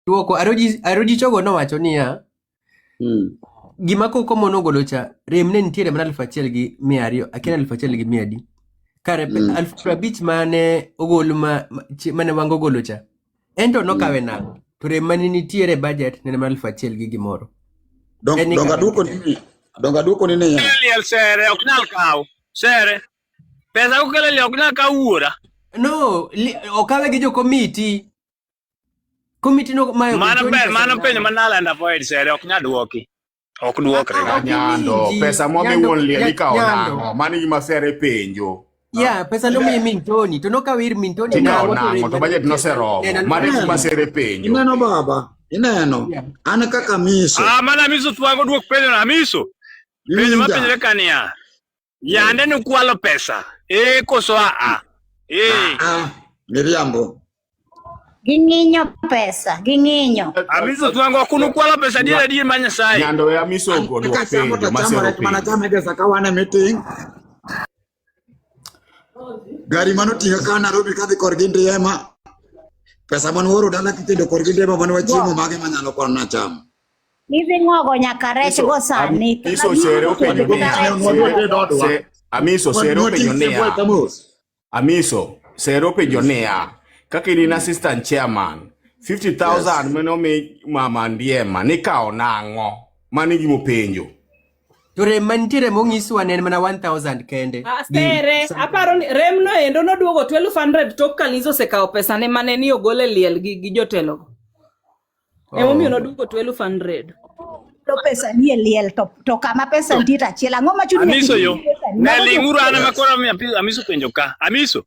Duoko Aroji Aroji Chogo nowacho niya, mm. gima koko mono golo cha rem ne nitiere mana aluf achiel gi mia ariyo akia aluf achiel gi mia adi kare mm. aluf piero abich mane ogol ma, ma, chi- mane wango golo cha ento nokawe nang'o to rem mane nitiere e budget nene mana aluf achiel gi gimoro Dong- En ni donga kare. duoko ni donga duoko ni niya Liel sere ok nyal kawo. Sere. Pesa ukelo liel ok nyal kawo wuora. no li, okawe gi jokomiti Komiti no mayo mano pe mano penyo ma Naland avoid sere ok nyal dwoki. Ok dwokre. Ah, ah, nyando pesa mo mi won lie ni kawo nango mano gima sere penjo. Ya, pesa no mi min Tony, to no ka wir min Tony na wo to. To budget no sero. Mano gima sere penjo. Ineno baba, ineno. An kaka miso. Ah, mana miso twango dwok penjo na miso. Penjo ma penjre kania. Yande ni kwalo pesa. Eh koso a a. Eh. Ah, miriambo. Ging'inyo pesa, ging'inyo. Amiso twango kunu kwalo pesa dira dira manya sai. Nyando ya miso uko ni wapenyo masero pe. Mana chama pesa kawana meeting. Gari mano tinga ka Nairobi kadhi korgi ndiema. Pesa man woro dala kitendo korgi ndiema man wachiemo mage manyalo kwana chama. Hivi ng'ogo nyaka rech go sani. Iso sere openyo niya. Amiso sere openyo niya. Amiso sere openyo niya. Kaka in in assistant chairman, 50,000 mane omi mama Ndiema nikawo nang'o? Mano e gima openjo. To rem mantiere mong'iswa ne en mana 1000 kende. Ah, sere, aparo ni rem no endo noduogo 1200 tok Kalizo osekawo pesane mane ni ogole liel gi, gi jotelogo. Oh. Emomiyo noduoko to eluf hundred. to pesa nie liel to, to kama pesa nitie to achiel ang'o ma chuni Amiso yo. Ne ling'uru an ema koro mi api- amiso penjo ka. Amiso,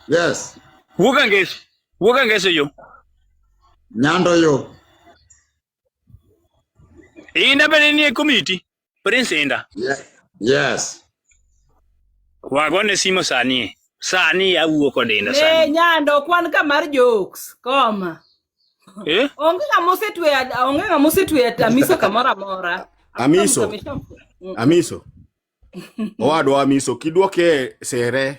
Yes. wuog angeso. Wuog angeso yo. Nyando yo. Inda bende nie komiti. Prince Inda. Yeah. Yes. Wagone simo sani. Sani awuo kod Inda sani. Eh, nyando kwan ka mar jokes. Koma. Eh? Onge ng'ama osetwe onge ng'ama osetwe Amiso kamoro amora. Amiso. Mm. Amiso. Owadwa Amiso kidwoke sere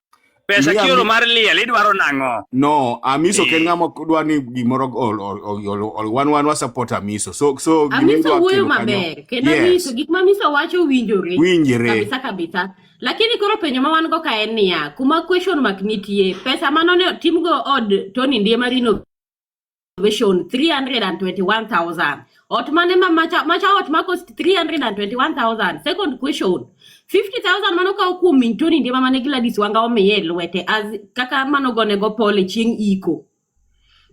Pesa Liam- kioro mar liel idwaro nang'o? No, Amiso ken Eh. ng'ama ok dwa ni gimoro ol- ol- ol- ol- ol- wan wan wa support Amiso. So so gima Amiso idwa wuoyo kelo kanyo. maber kendo Yes. Amiso gik ma Amiso wacho winjore Winjore. kabisa kabisa. Lakini koro penjo ma wan go ka en niya, kuma question mark nitie, pesa mano ne otimgo od Tony Ndiema Rino salvation 321,000. Otmane ma macha macha ot ma cost 321,000. Second question. 50,000 mano kawo kuom min Tony Ndiema mane Gladys Wanga omiye e lwete as kaka mano gone go pole chieng' iko.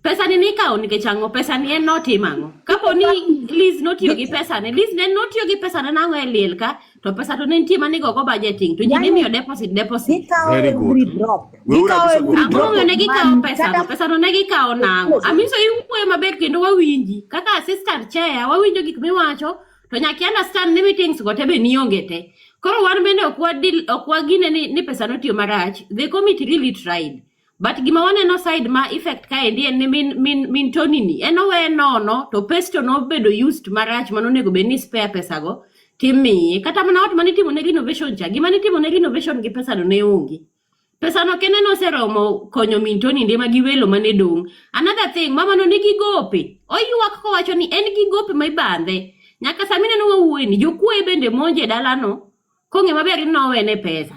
Pesa ni nikawo nikech ang'o? Pesa ni en notim ang'o? Kapo ni Liz notiyo gi pesa ne, Liz ne notiyo gi pesa ne nang'o e liel ka? to pesa to ne nitie mane igogo budgeting to ji ne miyo deposit deposit Gikawo Very good. every drop. Weuru Gikawo kabisa every kuom drop. ang'ong'yo ne gikawo Mami, pesa kata- pesa to ne gikawo nang'o amiso iwuoyo maber kendo wawinji kaka assistant chair wawinjo gik miwacho to nyaka i understand ni meetings go te be nionge te koro wan bende ok wadil ok wagine ni, ni pesa notiyo marach the committee really tried but gima waneno side ma effect kaendi en ni min, min, min tonini en owe nono to pesto nobedo used marach mano onego bed ni spare pesago timiye kata mana ot mane itimo ne renovation cha gima nitimo ne renovation gi pesano ne onge pesano kende noseromo konyo min toninde ma gi welo mane dong' another thing mamano nigi gope oywak kowacho ni en gi gope ma ibandhe nyaka sami neno wawuoyini jokuoye bende monje dalano kong'e maber ni nowene pesa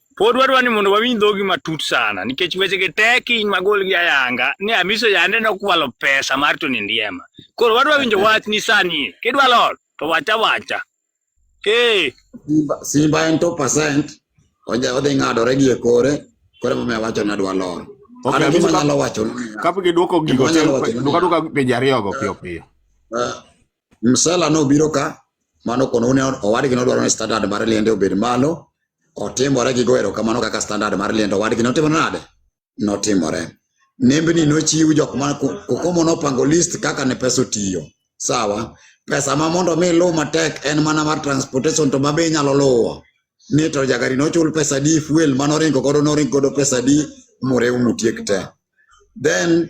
Pod wadwa ni mondo wawinj dhogi matut sana nikech weche gi tek in magol gi ayanga ni amiso yande nokwalo pesa mar Tony Ndiema. Koro wadwa winjo wach ni sani kidwa lor to wacha wacha. Eh. Simba, Simba en 2% oja odhi ng'adore gi e kore kore mama wacho na dwa lor. Okay, Ana amiso gima kap- nyalo wacho. Kapok iduoko gigo Gima nyalo wacho ni- duka duka penjo ariyogo piyo piyo. Uh, Msela no biro ka mano kono une owadgi nodwaro ni standard mar liende obed malo otimore gi goero kamano kaka standard mar liende owadgi notimo nade notimore nembni nochiw jok ma kokomo nopango list kaka ne pesa otiyo sawa pesa ma mondo mi luw matek en mana mar transportation to mabe inyalo luwo ni to jagari nochul pesa di fuel manoringo godo noringo godo pesa di murew mutiek te then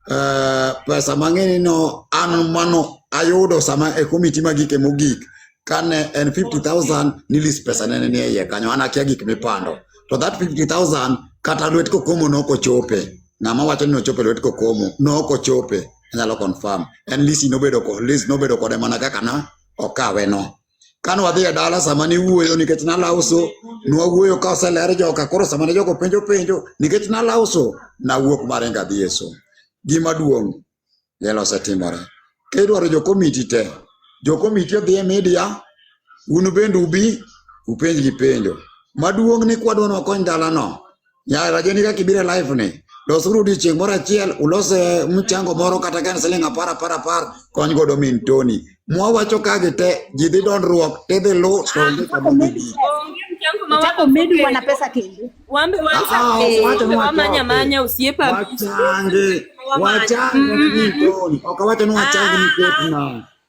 uh, pesa mang'eny no an mano ayudo sama e komiti magike mogik kane en 50000 nilis pesa nene ni iye kanyo an akia gik mipando to that 50000 kata lwet kokomo noko chope ng'ama wacho ni ochope lwet kokomo noko chope anyalo confirm en lisi nobedo ko list nobedo kode mana kaka na okawe no Kane wadhi e dala sama niwuoyo nikech nalauso, nwawuoyo ka oseler joka. Koro sama ne jogo penjo penjo nikech nalauso, nawuok maringo adhi e som. Gima duong' lielo osetimore. Ka idwaro jo komiti te, jo komiti odhi e media, un bende ubi upenjgi penjo. Maduong' ni kwadwa ni wakony dalano, Ya rajoni ka kibire live ni. Dosuru di chieng' moro achiel ulos eh, mchango moro kata ka en siling' apar apar apar kony godo min Tony. Mwawacho ka gite ji dhi dondruok tidhi lu to onge kama dhi bi. Utako medu wana pesa kendo. Wambe Ah, ah, eh, wacha ni wamanya wachoke. manya usiepa Wachange. Wachange ni min Tony. Ok awacho ni wachange nikech na.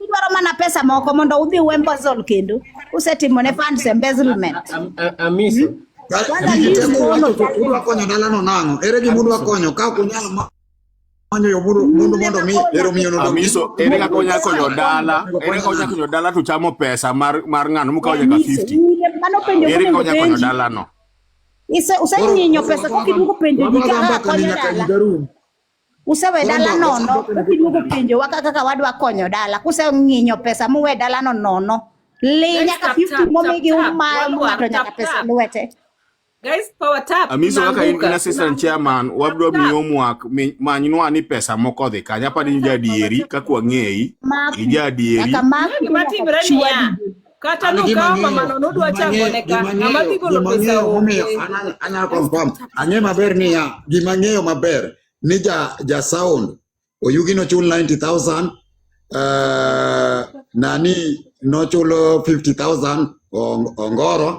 Idwaro mana pesa moko mondo udhi uembazol kendo usetimo ne funds embezzlement. Amisi. Hmm? Udwa konyo dalano nang'o? Ere gima udwa konyo ka ok unyal manyo yo mundo mundo mondo mi ero miyo no amiso ere ka konya konyo dala ere ka konya konyo dala to chamo pesa mar mar ngano mukawo nyaka 50 mano penjo ere ka konya konyo dala no ise usenyinyo pesa ko kiduko penjo dika konya dala Usewe dala nono, ukiluongo penjo waka kaka wadwa konyo dala, kuseng'inyo pesa muwe dala no nono. Li Guys, nyaka tap, 50 tap, momigi tap, tap. uma Waluwa, ng'ato nyaka tap, pesa tap. lwete. Guys, power tap. Amiso kaka in in Tunaanguka. assistant chairman wabro Tap. miyo mwak mi- manynwa ni pesa moko odhi kanye apani in jaadieri kaka wang'eyi Mak, ija adieri nyaka mak Gima timre niya, kata nokawo mamano nodwa chango ne ka ng'ama dhi golo pesa onge anyalo confirm ang'e maber niya gima ng'eyo maber ni ja ja sound oyugi nochul 90000 uh, nani nochulo 50000 ongoro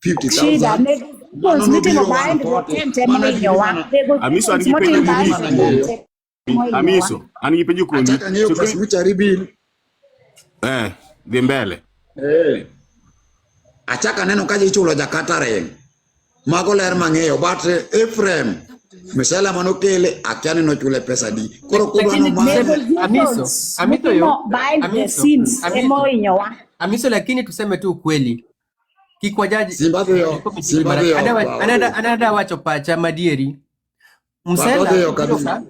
50000 Amiso anipende Amiso, an gi penjo kuomi. Achaka ng'eyo pes mucha ribil. Eh, dhi mbele. Eh. Achaka neno ka ichulo Jakarta reng. Mago ler mang'eyo but Ephraim misela mano kele akia ni nochule pesa di. Koro kuba no ma. Amiso, Amiso yo. Amiso, Amiso. Amiso lakini tuseme tu ukweli. Kikwajaji. Zimbabwe yo. Zimbabwe yo. Anada wacho pacha madieri. msela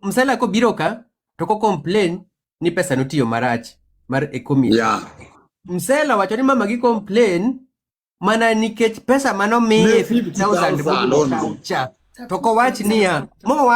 msela ko biro ka to ko complain ni pesa notiyo marach mar economy yeah. msela wacho ni mama gi complain mana nikech pesa mano miye 50000 cha to kowach niya mowa